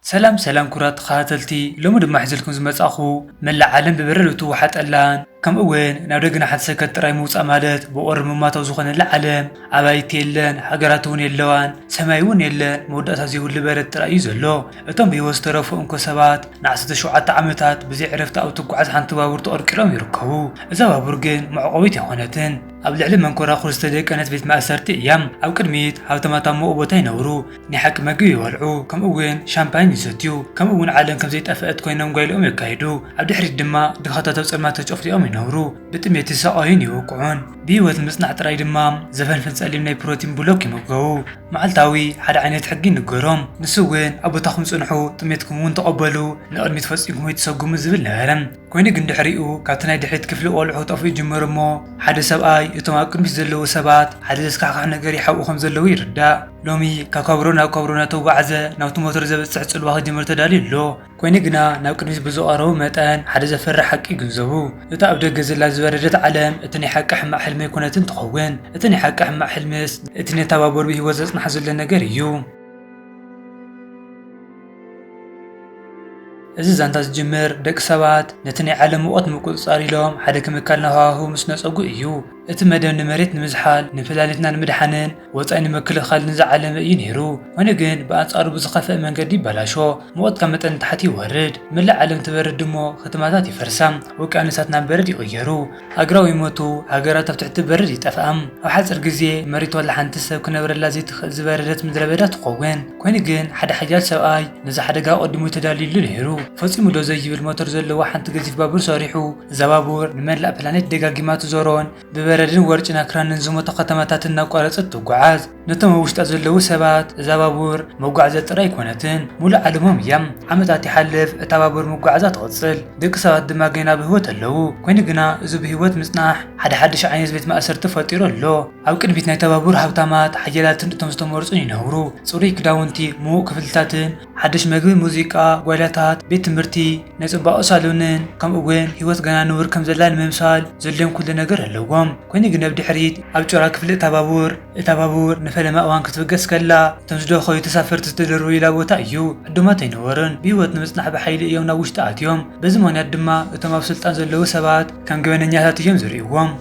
ሰላም ሰላም ክቡራት ተኸታተልቲ ሎሚ ድማ ሒዘልኩም ዝመጻኹ መላእ ዓለም ብበረዶ እትዋሓጠላን ከምኡ ውን ናብ ደግና ሓንቲ ሰከት ጥራይ ምውጻእ ማለት ብቑሪ ምማት ኣብ ዝኾነላ ዓለም ኣባይቲ የለን ሃገራት ውን የለዋን ሰማይ ውን የለን መወዳእታ ዘይብሉ በረድ ጥራይ እዩ ዘሎ እቶም ብሂወት ዝተረፉ እንኮ ሰባት ንዓሰርተ ሸውዓተ ዓመታት ብዘይ ዕረፍቲ ኣብ እትጓዓዝ ሓንቲ ባቡር ተቐርቂሮም ይርከቡ እዛ ባቡር ግን መዕቖቢት ኣይኾነትን ኣብ ልዕሊ መንኮራኹር ዝተደቀነት ቤት ማእሰርቲ እያ ኣብ ቅድሚት ሃብታማት ኣብ ምቕኡ ቦታ ይነብሩ ናይ ሓቂ መግቢ ይበልዑ፣ ከምኡውን ሻምፓኝ ይሰትዩ፣ ከምኡውን ዓለም ከም ዘይጠፍአት ኰይኖም ጓይላኦም የካይዱ፣ ኣብ ድሕሪት ድማ ድኻታት ኣብ ጸልማት ተጨፍሊቖም ይነብሩ፣ ብጥሜት ይሳቐዩን ይወቅዑን። ብህይወት ንምጽናሕ ጥራይ ድማ ዘፈንፍን ጸሊም ናይ ፕሮቲን ብሎክ ይምገቡ። መዓልታዊ ሓደ ዓይነት ሕጊ ይንገሮም፣ ንሱ እውን ኣብ ቦታኹም ጽንሑ፣ ጥሜትኩም እውን ተቐበሉ፣ ንቕድሚት ፈጺምኩም ኣይትሰጕሙ ዝብል ነበረ። ኰይኑ ግን ድሕሪኡ ካብቲ ናይ ድሕሪት ክፍሊ ቈልዑ ክጠፍኡ ይጅምሩ እሞ ሓደ ሰብኣይ እቶም ኣብ ቅድሚት ዘለዉ ሰባት ሓደ ዘስካሕክሕ ነገር ይሓብኡ ከም ዘለዉ ይርዳእ። ሎሚ ካብ ከብሮ ናብ ከብሮ እናተጓዕዘ ናብቲ ሞተር ዘብጽሕ ጽልዋ ክጅምር ተዳልዩ ኣሎ። ኮይኑ ግና ናብ ቅድሚት ብዝቐረቡ መጠን ሓደ ዘፈርሕ ሓቂ ይግንዘቡ። እታ ኣብ ደገ ዘላ ዝበረደት ዓለም እቲ ናይ ሓቂ ሕማቕ ሕልሚ ኣይኮነትን ትኸውን። እቲ ናይ ሓቂ ሕማቕ ሕልምስ እቲ ነታ ባቡር ብህይወት ዘጽንሓ ዘሎ ነገር እዩ። እዚ ዛንታ ዝጅምር ደቂ ሰባት ነቲ ናይ ዓለም ሙቐት ንምቁጽጻር ኢሎም ሓደ ክምካል ናብ ሃዋህው ምስ ነጸጉ እዩ። እቲ መደብ ንመሬት ንምዝሓል፣ ንፕላኔትና ንምድሓንን ወጻኢ ንምክልኻል ንዝዓለመ እዩ ነይሩ፣ ኾይኑ ግን ብኣንጻሩ ብዝኸፍኣ መንገዲ ይበላሾ፣ ሙቐት ካብ መጠን ንታሕቲ ይወርድ፣ መላእ ዓለም ትበርድ እሞ ከተማታት ይፈርሳ፣ ውቅያኖሳት ናብ በረድ ይቕየሩ፣ ኣግራው ይሞቱ፣ ሃገራት ኣብ ትሕቲ በረድ ይጠፍኣ፣ ኣብ ሓጺር ግዜ መሬት ዋላ ሓንቲ ሰብ ክነብረላ ዘይትኽእል ዝበረደት ምድረበዳ ትኸውን። ኾይኑ ግን ሓደ ሓያል ሰብኣይ ነዚ ሓደጋ ኣቐዲሙ ተዳልዩሉ ነይሩ። ፈጺሙ ደው ዘይብል ሞተር ዘለዋ ሓንቲ ገዚፍ ባቡር ሰሪሑ፣ እዛ ባቡር ንመላእ ፕላኔት ደጋጊማ ትዞሮን ብበረድን ወርጭን ኣኽራንን ዝሞታ ከተማታት እናቋረጸት ትጓዓዝ። ነቶም ኣብ ውሽጣ ዘለዉ ሰባት፣ እዛ ባቡር መጓዓዝያ ጥራይ ኣይኮነትን፣ ምሉእ ዓለሞም እያ። ዓመታት ይሓልፍ፣ እታ ባቡር ምጉዓዛ ትቕጽል፣ ደቂ ሰባት ድማ ጌና ብህይወት ኣለዉ። ኰይኑ ግና፣ እዚ ብህይወት ምጽናሕ ሓደ ሓድሽ ዓይነት ቤት ማእሰርቲ ፈጢሩ ኣሎ። ኣብ ቅድሚት ናይታ ባቡር ሃብታማት፣ ሓያላትን እቶም ዝተመርጹን ይነብሩ፣ ጽሩይ ክዳውንቲ፣ ምዉቕ ክፍልታትን፣ ሓድሽ መግቢ ሙዚቃ ጓይላታት ቤት ትምህርቲ፣ ናይ ጽባቐ ሳሎንን ከምኡ'ውን ህይወት ገና ንቡር ከም ዘላ ንምምሳል ዘድልዮም ኩሉ ነገር ኣለዎም። ኰይኑ ግን ኣብ ድሕሪት ኣብ ጩራ ክፍሊ እታ ባቡር፣ እታ ባቡር ንፈለማ እዋን ክትብገስ ከላ እቶም ዝደኸዩ ተሳፈርቲ ዝተደርበዩላ ቦታ እዩ። ዕዱማት ኣይነበሩን፣ ብህይወት ንምጽናሕ ብሓይሊ እዮም ናብ ውሽጢ ኣትዮም። በዚ ምኽንያት ድማ እቶም ኣብ ስልጣን ዘለዉ ሰባት ከም ገበነኛታት እዮም ዝርእይዎም።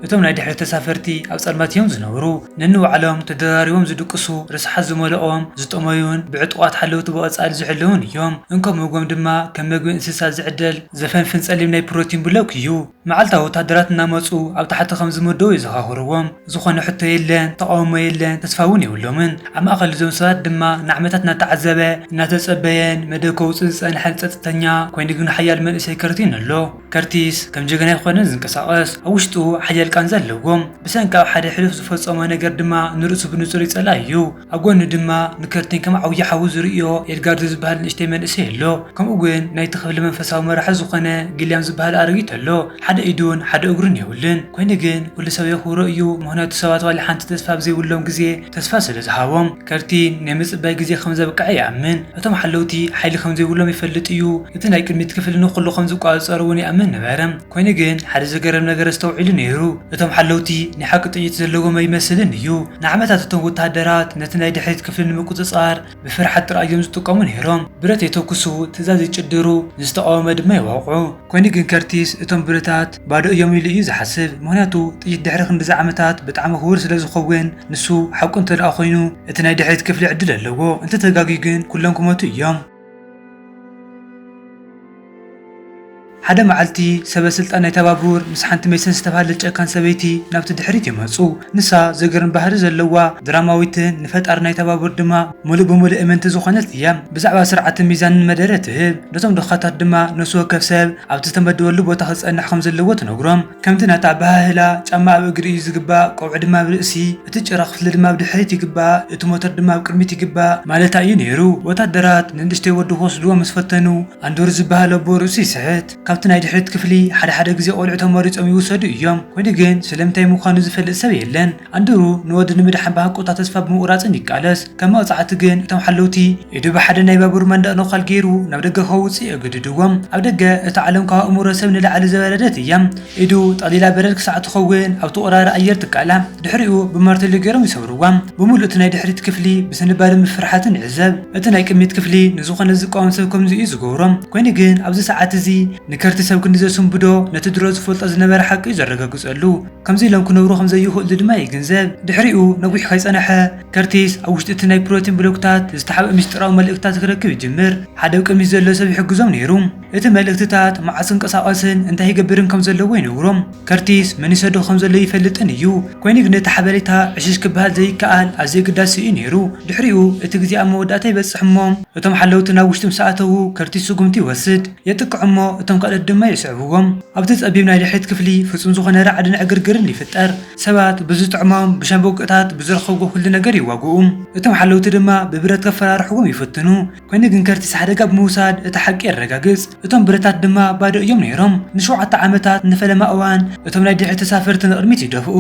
እቶም ናይ ድሕሪት ተሳፈርቲ ኣብ ጸልማት እዮም ዝነብሩ። ነንባዕሎም ተደራሪቦም ዝድቅሱ፣ ርስሓት ዝመልኦም፣ ዝጠመዩን ብዕጡቓት ሓለውቲ ብቐጻሊ ዝሕለዉን እዮም። እንኮ መግቦም ድማ ከም መግቢ እንስሳ ዝዕደል ዘፈንፍን ጸሊም ናይ ፕሮቲን ብሎክ እዩ። መዓልታዊ ወተሃደራት እናመጹ ኣብ ታሕቲ ከም ዝምደቡ የዘኻኽርዎም። ዝኾነ ሕቶ የለን፣ ተቓውሞ የለን፣ ተስፋ እውን የብሎምን። ኣብ ማእከል እዞም ሰባት ድማ ንዓመታት እናተዓዘበ፣ እናተጸበየን መደብ ከውጽእ ዝጸንሐን ጸጥተኛ ኮይኑ ግን ሓያል መንእሰይ ከርቲን ኣሎ። ከርቲስ ከም ጀጋናይ ኾነ ዝንቀሳቐስ ኣብ ውሽጡ ሓያል ቃንዛ ኣለዎ። ብሰንኪ ኣብ ሓደ ሕሉፍ ዝፈጸሞ ነገር ድማ ንርእሱ ብንጹር ይጸልኣ እዩ። ኣብ ጎኑ ድማ ንከርቲን ከም ዓውዪ ሓዉ ዝርእዮ ኤድጋርዶ ዝበሃል ንእሽተይ መንእሰይ ኣሎ። ከምኡ ውን ናይቲ ክፍሊ መንፈሳዊ መራሒ ዝኾነ ጊልያም ዝበሃል ኣረጊት ኣሎ። ሓደ ኢዱን ሓደ እግሩን የብሉን። ኮይኑ ግን ኩሉ ሰብ የኽብሮ እዩ ምኽንያቱ ሰባት ዋላ ሓንቲ ተስፋ ኣብ ዘይብሎም ግዜ ተስፋ ስለ ዝሃቦም፣ ከርቲ ናይ ምጽባይ ግዜ ከም ዘብቅዐ ይኣምን። እቶም ሓለውቲ ሓይሊ ከም ዘይብሎም ይፈልጥ እዩ፣ እቲ ናይ ቅድሚት ክፍሊ ንኹሉ ከም ዝቆጻጸሮ እውን ይኣምን ነበረ። ኰይኑ ግን ሓደ ዘገርም ነገር ኣስተውዒሉ ነይሩ፣ እቶም ሓለውቲ ናይ ሓቂ ጥይት ዘለዎም ኣይመስልን እዩ። ንዓመታት እቶም ወተሃደራት ነቲ ናይ ድሕሪት ክፍሊ ንምቁጽጻር፣ ብፍርሓት ጥራይ እዮም ዝጥቀሙ ነይሮም። ብረት የተኩሱ፣ ትእዛዝ ይጭድሩ፣ ንዝተቓወመ ድማ ይወቕዑ። ኰይኑ ግን ከርቲስ እቶም ብረታት ባዶ እዮም ኢሉ እዩ ዝሓስብ። ምኽንያቱ ጥይት ድሕሪ ክንድዚ ዓመታት ብጣዕሚ ክቡር ስለ ዝኸውን። ንሱ ሓቁ እንተድኣ ኰይኑ እቲ ናይ ድሕሪት ክፍሊ ዕድል ኣለዎ፣ እንተተጋግዩ ግን ኵሎም ክሞቱ እዮም። ሓደ መዓልቲ፣ ሰበ-ስልጣን ናይታ ባቡር ምስ ሓንቲ ሜሰን ዝተባህለት ጨካን ሰበይቲ ናብቲ ድሕሪት ይመጹ። ንሳ ዘገርም ባህሪ ዘለዋ፣ ድራማዊትን ንፈጣሪ ናይታ ባቡር ድማ ምሉእ ብምሉእ እምንቲ ዝኾነት እያ። ብዛዕባ ስርዓትን ሚዛንን መደረ ትህብ፣ ነቶም ድኻታት ድማ ነፍሲ ወከፍ ሰብ ኣብቲ ዝተመደበሉ ቦታ ክጸንሕ ከም ዘለዎ ትነግሮም። ከምቲ ናታ ኣበሃህላ፣ ጫማ ኣብ እግሪ እዩ ዝግባእ፣ ቆብዒ ድማ ኣብ ርእሲ፣ እቲ ጭራ ክፍሊ ድማ ኣብ ድሕሪት ይግባእ፣ እቲ ሞተር ድማ ኣብ ቅድሚት ይግባእ። ማለታ እዩ ነይሩ። ወታደራት ንንእሽተይ ወዱ ክወስድዎ ምስ ፈተኑ፣ ኣንዶር ዝበሃል ኣቦ ርእሱ ይስሕት። ካብቲ ናይ ድሕሪት ክፍሊ ሓደ ሓደ ግዜ ቆልዑ ተመሪጾም ይውሰዱ እዮም። ኮይኑ ግን ስለምንታይ ምዃኑ ዝፈልጥ ሰብ የለን። ኣንድሩ ንወዱ ንምድሓን ብሃንቀውታ ተስፋ ብምቑራጽን ይቃለስ። ከም መቕጻዕቲ ግን እቶም ሓለውቲ፣ ኢዱ ብሓደ ናይ ባቡር መንደቕ ነዃል ገይሩ ናብ ደገ ከውጽኡ የገድድዎም። ኣብ ደገ እታ ዓለም ካብ ኣእምሮ ሰብ ንላዕሊ ዝወረደት እያ። ኢዱ ጠቕሊላ በረድ ክሳዕ እትኸውን ኣብቲ ወራሪ ኣየር ትቃላዕ። ድሕሪኡ ብማርተሎ ገይሮም ይሰብርዋ። ብምሉእ እቲ ናይ ድሕሪት ክፍሊ ብስንባደን ብፍርሓትን ይዕዘብ። እቲ ናይ ቅድሚት ክፍሊ ንዝኾነ ዝቃወም ሰብ ከምዚ እዩ ዝገብሮ። ኰይኑ ግን ኣብዚ ሰዓት እዚ ንከርቲ ሰብ ክንዲ ዘስንብዶ ነቲ ድሮ ዝፈልጦ ዝነበረ ሓቂ እዩ ዘረጋግጸሉ። ከምዚ ኢሎም ክነብሩ ከም ዘይኽእሉ ድማ ይግንዘብ። ድሕሪኡ ነዊሕ ከይጸንሐ ከርቲስ ኣብ ውሽጢ እቲ ናይ ፕሮቲን ብሎክታት ዝተሓብኣ ምስጢራዊ መልእኽትታት ክረክብ ይጅምር። ሓደ ኣብ ቅድሚት ዘሎ ሰብ ይሕግዞም ነይሩ። እቲ መልእኽትታት መዓስ ክንቀሳቐስን እንታይ ይገብርን ከም ዘለዎ ይነግሮም። ከርቲስ መን ይሰዶ ከም ዘሎ ኣይፈልጥን እዩ፣ ኰይኑ ግን እቲ ሓበሬታ ዕሽሽ ክበሃል ዘይከኣል ኣዝዩ ኣገዳሲ እዩ ነይሩ። ድሕሪኡ እቲ ግዜ ኣብ መወዳእታ ይበጽሕ እሞ እቶም ሓለውቲ ናብ ውሽጢ ምስ ኣተዉ ከርቲስ ስጕምቲ ይወስድ። የጥቅዕ እሞ እቶም ካልኦት ድማ ይስዕብዎም። ኣብቲ ጸቢብ ናይ ድሕሪት ክፍሊ ፍጹም ዝዀነ ራዕድን ዕግርግርን ይፍጠር። ሰባት ብዝጥዕሞም ብሻምብቆታት ብዝረኸብዎ ኵሉ ነገር ይዋግኡ፣ እቶም ሓለውቲ ድማ ብብረት ከፈራርሕዎም ይፍትኑ። ኰይኑ ግን ከርቲስ ሓደጋ ብምውሳድ እቲ ሓቂ የረጋግጽ፣ እቶም ብረታት ድማ ባዶ እዮም ነይሮም። ንሸውዓተ ዓመታት ንፈለማ እዋን እቶም ናይ ድሕሪት ተሳፈርቲ ንቕድሚት ይደፍኡ።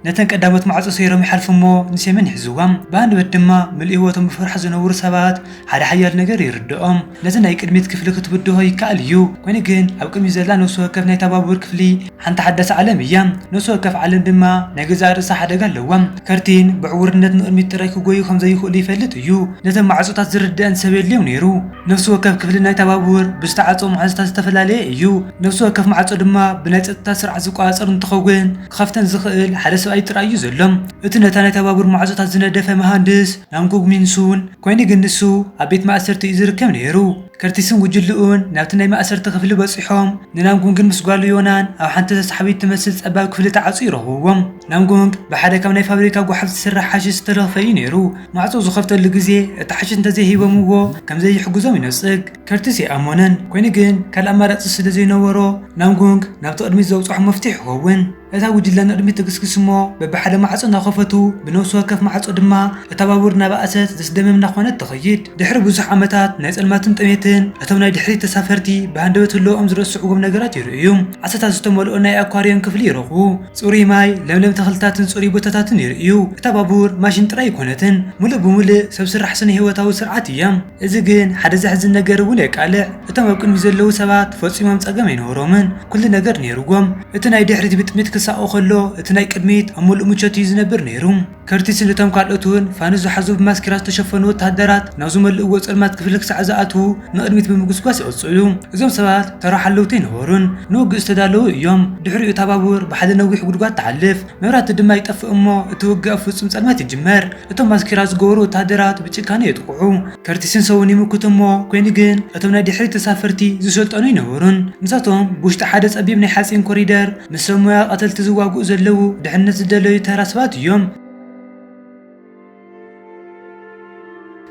ነተን ቀዳሞት ማዕጾ ሰይሮም ይሓልፉ እሞ ንሴምን ይሕዝዋ። ብሃንደበት ድማ ምሉእ ህይወቶም ብፍርሓት ዝነብሩ ሰባት ሓደ ሓያል ነገር ይርድኦም። ነዚ ናይ ቅድሚት ክፍሊ ክትብድሆ ይከኣል እዩ፣ ኰይኑ ግን ኣብ ቅድሚት ዘላ ነፍሲ ወከፍ ናይታ ባቡር ክፍሊ ሓንቲ ሓዳስ ዓለም እያ፣ ነፍሲ ወከፍ ዓለም ድማ ናይ ገዛእ ርእሳ ሓደጋ ኣለዋ። ከርቲን ብዕዉርነት ንቕድሚት ጥራይ ክጐዩ ከም ዘይኽእሉ ይፈልጥ እዩ። ነተን ማዕጾታት ዝርድኣን ሰብ የድልዮም ነይሩ። ነፍሲ ወከፍ ክፍሊ ናይታ ባቡር ብዝተዓጽዎ መሓዝታት ዝተፈላለየ እዩ፣ ነፍሲ ወከፍ ማዕጾ ድማ ብናይ ጸጥታ ስርዓት ዝቈጻጸር እንትኸውን፣ ክኸፍተን ዝኽእል ሓደ ሰብኣይ ጥራይ እዩ ዘሎ። እቲ ነታ ናይታ ባቡር ማዕጾታት ዝነደፈ መሃንድስ፣ ናምጉግ ሚንሱን ኮይኑ ግን ንሱ ኣብ ቤት ማእሰርቲ እዩ ዝርከብ ነይሩ። ከርቲስን ጉጅልኡን ናብቲ ናይ ማእሰርቲ ክፍሊ በጺሖም ንናምጉንግን ምስ ጓሉ ዮናን ኣብ ሓንቲ ተሳሓቢት ትመስል ጸባብ ክፍሊ ተዓጽዩ ረኽብዎም። ናምጉንግ ብሓደ ካብ ናይ ፋብሪካ ጎሓፍ ዝስራሕ ሓሽሽ ዝተለኽፈ እዩ ነይሩ። ማዕጾ ዝኸፍተሉ ግዜ እቲ ሓሽሽ እንተዘይሂቦምዎ ከም ዘይሕግዞም ይነጽግ። ከርቲስ ኣይኣመኖን ኮይኑ ግን ካልእ ኣማራጺ ስለ ዘይነበሮ ናምጉንግ ናብቲ ቅድሚት ዘብጽሖ መፍትሕ ይኸውን። እታ ጉጅለ ንቕድሚት ትግስግስ እሞ በብሓደ ማዕጾ እናኸፈቱ ብነብሲ ወከፍ ማዕጾ ድማ እታ ባቡር እናበኣሰት ዘስደምም እናኾነት ትኸይድ። ድሕሪ ብዙሕ ዓመታት ናይ ጸልማትን ጥሜትን እቶም ናይ ድሕሪት ተሳፈርቲ ብሃንደበት ህልወኦም ዝረስዕዎም ነገራት ይርእዩ። ዓሳታት ዝተመልኦ ናይ ኣኳርዮም ክፍሊ ይረኽቡ። ጽሩይ ማይ፣ ለምለም ተኽልታትን ጽሩይ ቦታታትን ይርእዩ። እታ ባቡር ማሽን ጥራይ ኣይኮነትን፣ ምሉእ ብምሉእ ሰብ ስራሕ ስነ-ህይወታዊ ስርዓት እያ። እዚ ግን ሓደ ዘሕዝን ነገር እውን የቃልዕ፣ እቶም ኣብ ቅድሚት ዘለዉ ሰባት ፈጺሞም ጸገም ኣይነበሮምን፣ ኵሉ ነገር ነይሩዎም። እቲ ናይ ድሕሪት ብጥሚት ክሳቖ ኸሎ፣ እቲ ናይ ቅድሚት ኣብ ምሉእ ምቾት እዩ ዝነብር ነይሩ። ከርቲስን እቶም ካልኦትን ፋኑስ ዝሓዙ ብማስኬራ ዝተሸፈኑ ወተሃደራት ናብ ዝመልእዎ ጸልማት ክፍሊ ክሳዕ ዝኣትዉ ንቕድሚት ብምጉስጓስ ይቕጽሉ። እዞም ሰባት ተራ ሓለውቲ ኣይነበሩን፣ ንውግእ ዝተዳለዉ እዮም። ድሕሪኡ እታ ባቡር ብሓደ ነዊሕ ጕድጓድ ትሓልፍ። መብራህቲ ድማ ይጠፍእ እሞ እቲ ውግእ ኣብ ፍጹም ጸልማት ይጅመር። እቶም ማስኬራ ዝገበሩ ወተሃደራት ብጭካነ የጥቕዑ። ከርቲስን ሰዉን ይምክቱ እሞ ኮይኑ ግን እቶም ናይ ድሕሪት ተሳፈርቲ ዝሰልጠኑ ኣይነበሩን። ምሳቶም ብውሽጢ ሓደ ጸቢብ ናይ ሓጺን ኮሪደር ምስ ሰብ ሞያ ቀተልቲ ዝዋግኡ ዘለዉ ድሕነት ዝደለዩ ተራ ሰባት እዮም።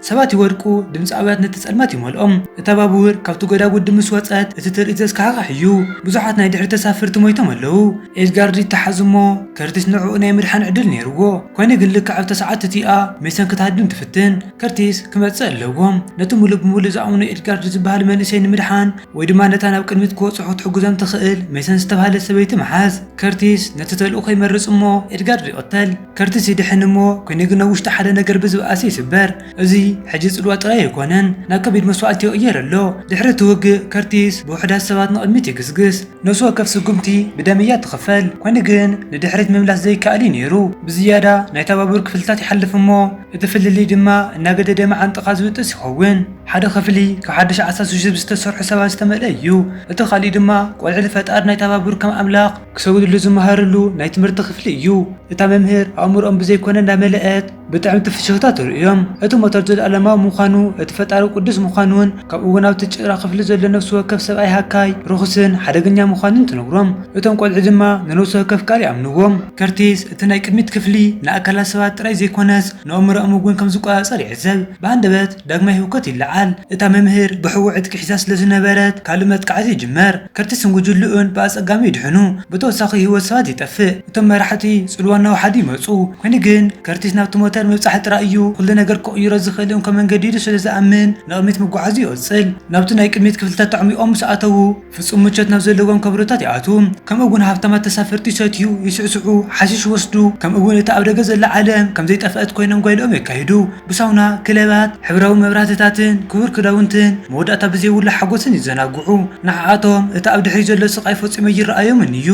ሰባት ይወድቁ፣ ድምጺ ኣውያት ነቲ ጸልማት ይመልኦ። እታ ባቡር ካብቲ ጐዳጉዲ ምስ ወጸት፣ እቲ ትርኢት ዘስካሕኽሕ እዩ። ብዙሓት ናይ ድሕሪት ተሳፈርቲ ሞይቶም ኣለዉ። ኤድጋርድ ይተሓዝ እሞ ከርቲስ ንዕኡ ናይ ምድሓን ዕድል ነይርዎ። ኰይኑ ግን ልክዕ ኣብታ ሰዓት እቲኣ ሜሰን ክትሃድም ትፍትን። ከርቲስ ክመጽእ ኣለዎ። ነቲ ምሉእ ብምሉእ ዝኣምኖ ኤድጋርድ ዝበሃል መንእሰይ ንምድሓን ወይ ድማ ነታ ናብ ቅድሚት ክበጽሑ ክትሕግዞም ትኽእል ሜሰን ዝተባህለት ሰበይቲ ምሓዝ። ከርቲስ ነቲ ተልእኾ ይመርጽ እሞ ኤድጋርድ ይቕተል። ከርቲስ ይድሕን እሞ ኩይኑ ግን ኣብ ውሽጢ ሓደ ነገር ብዝብኣሰ ይስበር። እዚ ሕጂ ጽልዋ ጥራይ ኣይኮነን ናብ ከቢድ መስዋእቲ ይቕየር ኣሎ። ድሕሪ እቲ ውግእ ከርቲስ ብውሑዳት ሰባት ንቕድሚት ይግስግስ። ነፍሲ ወከፍ ስጉምቲ ብደም እያ እትኽፈል፣ ኮይኑ ግን ንድሕሪት ምምላስ ዘይከኣል እዩ ነይሩ። ብዝያዳ ናይታ ባቡር ክፍልታት ይሓልፍ እሞ እቲ ፍልልይ ድማ እናገደደ መዓንጣኻ ዝብጥስ ይኸውን። ሓደ ክፍሊ ካብ ሓድሽ ዓሳ ስዙብ ዝተሰርሑ ሰባት ዝተመልአ እዩ፣ እቲ ካልእ ድማ ቆልዑ ልፈጣር ናይታ ባቡር ከም ኣምላኽ፣ ክሰግድሉ ዝመሃርሉ ናይ ትምህርቲ ክፍሊ እዩ። እታ መምህር ኣእምሮኦም ብዘይኮነ እንዳመለእት ብጥዕምቲ ፍሽኽታ ተርእዮም። እቲ ሞተር ዘልኣለማዊ ምዃኑ እቲ ፈጣሪ ቅዱስ ምዃኑን ካብ እውን ኣብቲ ጭራ ክፍሊ ዘሎ ነፍሲ ወከፍ ሰብኣይ ሃካይ ርኹስን ሓደገኛ ምዃኑን ትነግሮም። እቶም ቆልዑ ድማ ንነብሲ ወከፍ ቃል ይኣምንዎ። ከርቲስ እቲ ናይ ቅድሚት ክፍሊ ንኣካላት ሰባት ጥራይ ዘይኮነስ ንኣእምሮኦም እውን ከም ዝቆጻጸር ይዕዘብ። ብሃንደበት ዳግማይ ህውከት ይለዓል። እታ መምህር ግሕዊ ዕጥቂ ሒዛ ስለ ዝነበረት ካልእ መጥቃዕቲ ይጅመር። ከርቲስን ጉጅልኡን ብኣጸጋሚ ይድሕኑ፣ ብተወሳኺ ህይወት ሰባት ይጠፍእ። እቶም መራሕቲ ጽልዋ እናወሓዱ ይመጹ። ኰይኑ ግን፣ ከርቲስ ናብቲ ሞተር ምብጻሕ ጥራይ እዩ ኵሉ ነገር ክቕይሮ ዝኽእል እንኮ መንገዲ ኢሉ ስለ ዝኣምን ንቕድሚት ምጕዓዙ ይቕጽል። ናብቲ ናይ ቅድሚት ክፍልታት ተዕሚቖም ምስ ኣተዉ፣ ፍጹም ምቾት ናብ ዘለዎም ከበሮታት ይኣትዉ። ከምኡ'ውን ሃብታማት ተሳፈርቲ ይሰትዩ፣ ይስዕስዑ፣ ሓሺሽ ይወስዱ፣ ከምኡ'ውን እታ ኣብ ደገ ዘላ ዓለም ከም ዘይጠፍኣት ኰይኖም ጓይላኦም የካይዱ። ብሳውና፣ ክለባት፣ ሕብራዊ መብራህትታትን ክቡር ክዳውንትን መወዳእታ ብዘይብሉ ሓጐስን ይዘናግዑ። ንዓኣቶም እቲ ኣብ ድሕሪት ዘሎ ስቓይ ፈጺሙ ኣይረኣዮምን እዩ።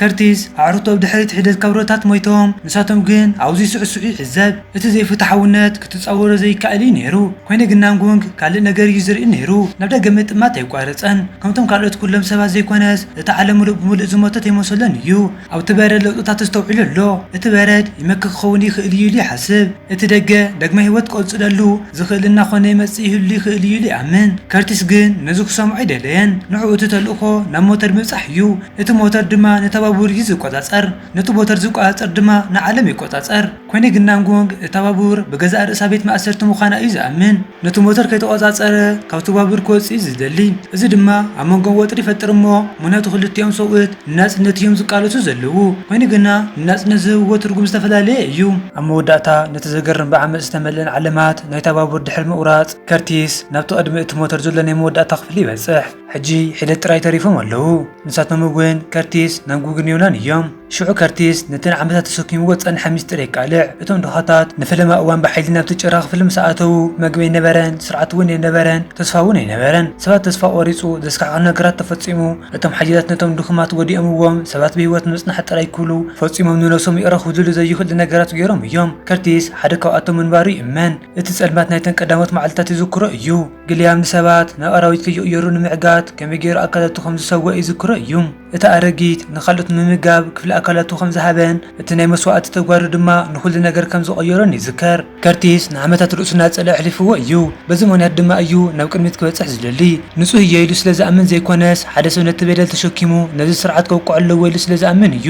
ከርቲስ፣ ኣዕሩኽቱ ኣብ ድሕሪት ሒደት ካብረታት ሞይቶም፣ ንሳቶም ግን ኣብኡ ይስዕስዑ ይዕዘብ። እቲ ዘይፍትሓውነት ክትጻወሮ ዘይከኣል እዩ ነይሩ። ኰይኑ ግን ናንጉንግ ካልእ ነገር እዩ ዝርኢ ነይሩ። ናብ ደገ ምጥማት ኣየቋረጸን። ከምቶም ካልኦት ኵሎም ሰባት ዘይኰነስ፣ እቲ ዓለም ምሉእ ብምሉእ ዝሞተት ኣይመሰሎን እዩ። ኣብቲ በረድ ለውጥታት ተስተውዒሉ ኣሎ። እቲ በረድ ይመክት ክኸውን ይኽእል እዩ ኢሉ ይሓስብ። እቲ ደገ ዳግመ ህይወት ክቕጽለሉ ዝኽእል እናዀነ ይመጽእ ይህሉ ይኽእል እዩ ኢሉ ይኣምን። ከርቲስ ግን ነዚ ክሰምዖ ኣይደለየን። ንዕኡ እቲ ተልእኾ ናብ ሞተር ምብጻሕ እዩ። እቲ ሞተር ድማ ነታ ባቡር እዩ ዝቈጻጸር። ነቲ ሞተር ዝቈጻጸር ድማ ንዓለም ይቈጻጸር። ኰነ ግን ናንጎንግ እታ ባቡር ብገዛእ ርእሳ ቤት ማእሰርቲ ምዃና እዩ ዝኣምን። ነቲ ሞተር ከይተቖጻጸረ ካብቲ ባቡር ክወጽእ'ዩ ዝደሊ። እዚ ድማ ኣብ መንጎኦም ወጥሪ ይፈጥር እሞ ምኽንያቱ ክልቲኦም ሰብኡት ንናጽነት እዮም ዝቃለሱ ዘለዉ። ኮይኑ ግና ንናጽነት ዝህብዎ ትርጉም ዝተፈላለየ እዩ። ኣብ መወዳእታ ነቲ ዘገርም ብዓመጽ ዝተመልአን ዓለማት ናይታ ባቡር ድሕሪ ምቑራጽ፣ ከርቲስ ናብቲ ቅድሚ እቲ ሞተር ዘሎ ናይ መወዳእታ ክፍሊ ይበጽሕ። ሕጂ ሒደት ጥራይ ተሪፎም ኣለዉ። ንሳቶም'ውን ከርቲስ፣ ናንጉግን ዮናን እዮም። ሽዑ ከርቲስ ነቲ ንዓመታት ተሰኪምዎ ዝጸንሐ ምስጢር የቃልዕ። እቶም ድኻታት ንፈለማ እዋን ብሓይሊ ናብቲ ጭራ ክፍሊ ምስ ኣተዉ፣ መግቢ ኣይነበረን፣ ስርዓት እውን ኣይነበረን፣ ተስፋ እውን ኣይነበረን። ሰባት ተስፋ ቈሪጹ፣ ዘስካሕክሕ ነገራት ተፈጺሙ። እቶም ሓያላት ነቶም ድኹማት ጐዲኦምዎም፣ ሰባት ብህይወት ንምጽናሕ ጥራይ ክብሉ ፈጺሞም ንነብሶም ይቕረ ክብልሉ ዘይኽእሉ ነገራት ገይሮም እዮም። ከርቲስ ሓደ ካብኣቶም ምንባሩ ይእመን። እቲ ጸልማት ናይተን ቀዳሞት መዓልትታት ይዝክሮ እዩ። ግልያም ንሰባት ናብ ኣራዊት ከይቕየሩ ንምዕጋት ከመይ ገይሩ ኣካላቱ ከም ዝሰወኣ ይዝክሮ እዩ። እታ ኣረጊት ንኻልኦት ንምምጋብ ክፍሊ ኣካላቱ ከም ዝሃበን እቲ ናይ መስዋእቲ ተግባሩ ድማ ንዅሉ ነገር ከም ዝቐየሮን ይዝከር። ከርቲስ ንዓመታት ርእሱ እናጸልኣ ኣሕሊፍዎ እዩ፣ በዚ ምኽንያት ድማ እዩ ናብ ቅድሚት ክበጽሕ ዝደሊ። ንጹህ እየ ኢሉ ስለ ዝኣምን ዘይኰነስ፣ ሓደ ሰብ ነቲ በደል ተሸኪሙ ነዚ ስርዓት ከውቅዖ ኣለዎ ኢሉ ስለ ዝኣምን እዩ።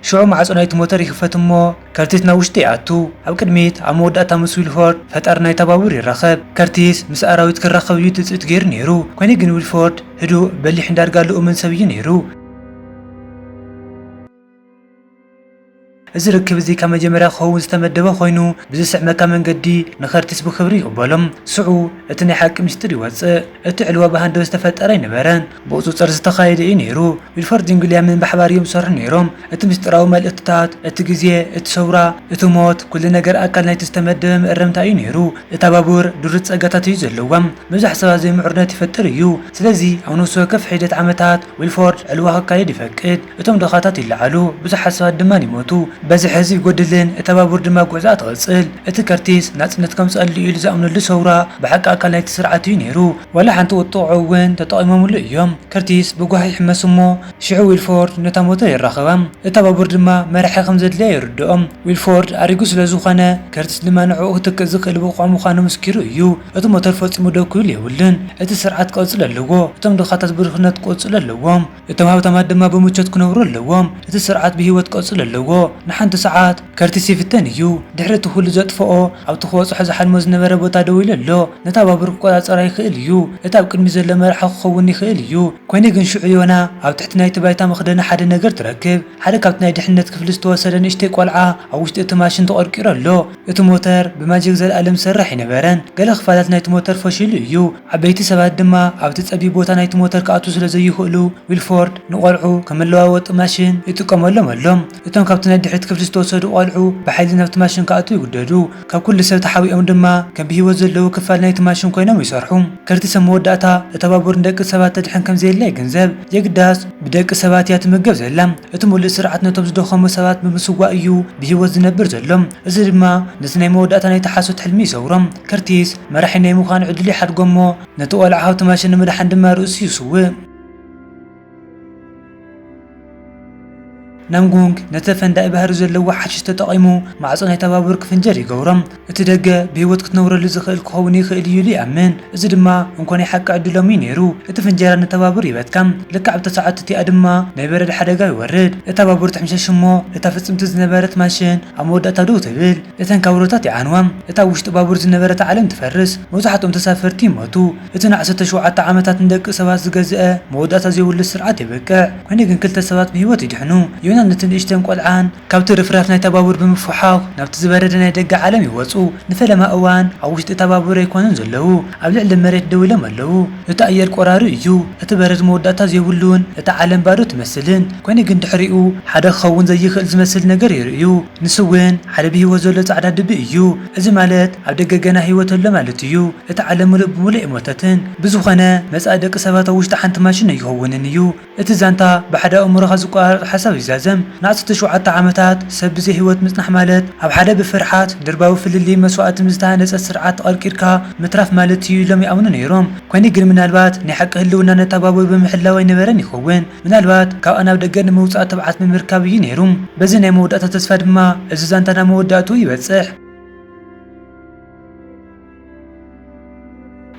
ሽዑ ማዕጾ ናይቲ ሞተር ይኽፈት እሞ ከርቲስ ናብ ውሽጢ ይኣቱ። ኣብ ቅድሚት ኣብ መወዳእታ ምስ ዊልፎርድ፣ ፈጣሪ ናይታ ባቡር፣ ይራኸብ። ከርቲስ ምስ ኣራዊት ክራኸብ እዩ ትጽቢት ገይሩ ነይሩ፣ ኰይኑ ግን ዊልፎርድ ህዱእ፣ በሊሕን ዳርጋ ልኡምን ሰብ እዩ ነይሩ። እዚ ርክብ እዚ ካብ መጀመርያ ክኸውን ዝተመደበ ኰይኑ፣ ብዝስዕመካ መንገዲ ንከርቲስ ብኽብሪ ይቕበሎ። ሽዑ እቲ ናይ ሓቂ ምስጢር ይወጽእ። እቲ ዕልዋ ብሃንደበት ዝተፈጠረ ኣይነበረን፣ ብቑጽጽር ዝተኻየደ እዩ ነይሩ። ዊልፎርድን ዊልያምን ብሓባር እዮም ዝሰርሑ ነይሮም። እቲ ምስጢራዊ መልእኽትታት፣ እቲ ግዜ፣ እቲ ሰውራ፣ እቲ ሞት፣ ኩሉ ነገር ኣካል ናይቲ ዝተመደበ መእረምታ እዩ ነይሩ። እታ ባቡር ድሩት ጸጋታት እዩ ዘለዋ፣ ምብዛሕ ሰባት ዘይምዕሩነት ይፈጥር እዩ። ስለዚ ኣብ ነፍሲ ወከፍ ሒደት ዓመታት፣ ዊልፎርድ ዕልዋ ክካየድ ይፈቅድ፣ እቶም ድኻታት ይለዓሉ፣ ብዙሓት ሰባት ድማ ይሞቱ፣ በዝሒ ህዝቢ ይጎድልን እታ ባቡር ድማ ጉዕዞኣ ትቕጽል። እቲ ከርቲስ ናጽነት ከምጽኣሉ ኢሉ ዝኣምነሉ ሰውራ ብሓቂ ኣካል ናይቲ ስርዓት እዩ ነይሩ። ዋላ ሓንቲ ቁጥዐኡ እውን ተጠቒሞምሉ እዮም። ከርቲስ ብጓሂ ይሕመስ እሞ ሽዑ ዊልፎርድ ነታ ሞተር የራኽባ፣ እታ ባቡር ድማ መራሒ ከም ዘድልያ የርድኦ። ዊልፎርድ ኣሪጉ ስለ ዝኾነ፣ ከርቲስ ድማ ንዕኡ ክትክእ ዝኽእል ብቑዕ ምዃኑ ምስኪሩ እዩ። እቲ ሞተር ፈጺሙ ደው ክብል የብሉን። እቲ ስርዓት ክቕጽል ኣለዎ። እቶም ድኻታት ብድኽነት ክቕጽሉ ኣለዎም። እቶም ሃብታማት ድማ ብምቾት ክነብሩ ኣለዎም። እቲ ስርዓት ብህይወት ክቕጽል ኣለዎ። ንሓንቲ ሰዓት። ከርቲስ ይፍተን እዩ። ድሕሪ እቲ ዅሉ ዘጥፍኦ፣ ኣብቲ ክበጽሖ ዝሓልሞ ዝነበረ ቦታ ደው ኢሉ ኣሎ። ነታ ባቡር ክቈጻጸራ ይኽእል እዩ። እቲ ኣብ ቅድሚት ዘሎ መራሒ ክኸውን ይኽእል እዩ። ኰይኑ ግን ሽዑ ዮና ኣብ ትሕቲ ናይቲ ባይታ መኽደኒ ሓደ ነገር ትረክብ። ሓደ ካብቲ ናይ ድሕነት ክፍሊ ዝተወሰደ ንእሽተይ ቈልዓ ኣብ ውሽጢ እቲ ማሽን ተቘርቂሩ ኣሎ። እቲ ሞተር ብማጂክ ዘልኣልም ዝሰርሕ ኣይነበረን፣ ገለ ክፋላት ናይቲ ሞተር ፈሺሉ እዩ፣ ዓበይቲ ሰባት ድማ ኣብቲ ጸቢብ ቦታ ናይቲ ሞተር ክኣትዉ ስለ ዘይኽእሉ፣ ዊልፎርድ ንቘልዑ ከም መለዋወጢ ማሽን ይጥቀመሎም ኣሎ። እቶም ካብቲ ናይ ድሕሪት ክፍሊ ዝተወሰዱ ቈልዑ ብሓይሊ ናብቲ ማሽን ክኣትዉ ይግደዱ፣ ካብ ኵሉ ሰብ ተሓቢኦም ድማ ከም ብህይወት ዘለዉ ክፋል ናይቲ ማሽን ኰይኖም ይሰርሑ። ከርቲስ ኣብ መወዳእታ፣ እታ ባቡር ንደቂ ሰባት ተድሕን ከም ዘየላ ይግንዘብ፣ የግዳስ ብደቂ ሰባት እያ ትምገብ ዘላ። እቲ ምሉእ ስርዓት ነቶም ዝደኸሙ ሰባት ብምስዋእ እዩ ብህይወት ዝነብር ዘሎ፣ እዚ ድማ ነቲ ናይ መወዳእታ ናይቲ ሓሶት ሕልሚ ይሰብሮ። ከርቲስ፣ መራሒ ናይ ምዃን ዕድሉ ይሓድጎ እሞ ነቲ ቈልዓ ሃብቲ ማሽን ንምድሓን ድማ ርእሱ ይስውእ። ናምጉንግ ነቲ ፈንዳኢ ባህሪ ዘለዎ ሓሽሽ ተጠቒሙ ማዕጾ ናይታ ባቡር ክፍንጀር ይገብሮ። እቲ ደገ ብህይወት ክትነብረሉ ዝኽእል ክኸውን ይኽእል እዩ ኢሉ ይኣምን። እዚ ድማ እንኮ ናይ ሓቂ ዕድሎም እዩ ነይሩ። እቲ ፍንጀራ ነታ ባቡር ይበትካ፣ ልክዕ ኣብታ ሰዓት እቲኣ ድማ ናይ በረድ ሓደጋ ይወርድ። እታ ባቡር ትሕምሸሽ እሞ እታ ፍጽምቲ ዝነበረት ማሽን ኣብ መወዳእታ ደው ትብል። እተን ካብሮታት ይዓንዋ፣ እታ ኣብ ውሽጢ ባቡር ዝነበረት ዓለም ትፈርስ፣ መብዛሕትኦም ተሳፈርቲ ይሞቱ። እቲ ንዓሰርተ ሸውዓተ ዓመታት ንደቂ ሰባት ዝገዝአ መወዳእታ ዘይብሉ ስርዓት የብቅዕ። ኰይኑ ግን ክልተ ሰባት ብህይወት ይድሕኑ፣ ዮናን እቲ ንእሽተን ቈልዓን። ካብቲ ርፍራፍ ናይታ ባቡር ብምፍሕዃኽ ናብቲ ዝበረደ ናይ ደገ ዓለም ይወጹ። ንፈለማ እዋን ኣብ ውሽጢ እታ ባቡር ኣይኰኑን ዘለዉ፣ ኣብ ልዕሊ መሬት ደው ኢሎም ኣለዉ። እቲ ኣየር ቈራሪ እዩ፣ እቲ በረድ መወዳእታ ዘይብሉን እታ ዓለም ባዶ ትመስልን። ኰይኑ ግን ድሕሪኡ ሓደ ክኸውን ዘይክእል ዝመስል ነገር ይርእዩ፣ ንሱ እውን ሓደ ብህይወት ዘሎ ጻዕዳ ድቢ እዩ። እዚ ማለት ኣብ ደገ ገና ህይወት ኣሎ ማለት እዩ፣ እታ ዓለም ምሉእ ብምሉእ ኣይሞተትን። ብዝዀነ መጻኢ ደቂ ሰባት ኣብ ውሽጢ ሓንቲ ማሽን ኣይክውንን እዩ። እቲ ዛንታ ብሓደ ኣእምሮኻ ዝቆራረጽ ሓሳብ ይዛዘም። ንኣስርተ ሸውዓተ ዓመታት ሰብ ብዘይ ህይወት ምጽናሕ ማለት ኣብ ሓደ ብፍርሓት፣ ድርባዊ ፍልልይን መስዋእትን ዝተሃነጸ ስርዓት ተቐርቂርካ ምትራፍ ማለት እዩ ኢሎም ይኣምኑ ነይሮም። ኰይኑ ግን ምናልባት ናይ ሓቂ ህልውና ነታ ባቡር ብምሕላው ኣይነበረን ይኸውን። ምናልባት ካብኣ ናብ ደገ ንምውጻእ ትብዓት ብምርካብ እዩ ነይሩ። በዚ ናይ መወዳእታ ተስፋ ድማ እዚ ዛንታ ናብ መወዳእትኡ ይበጽሕ።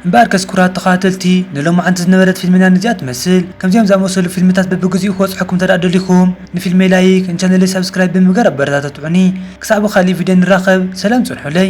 እምበኣርከስ ኩራት ተኸታተልቲ ንሎማዓንቲ ዝነበረት ፊልምና ነዚኣ ትመስል። ከምዚኣም ዝኣመሰሉ ፊልምታት በብግዚኡ ክበጽሐኩም እንተድኣ ደሊኹም ንፊልመይ ላይክ ንቻነለይ ሳብስክራይብ ብምግባር ኣበረታትዑኒ። ክሳዕ ብኻሊእ ቪድዮ ንራኸብ ሰላም ጽንሑለይ።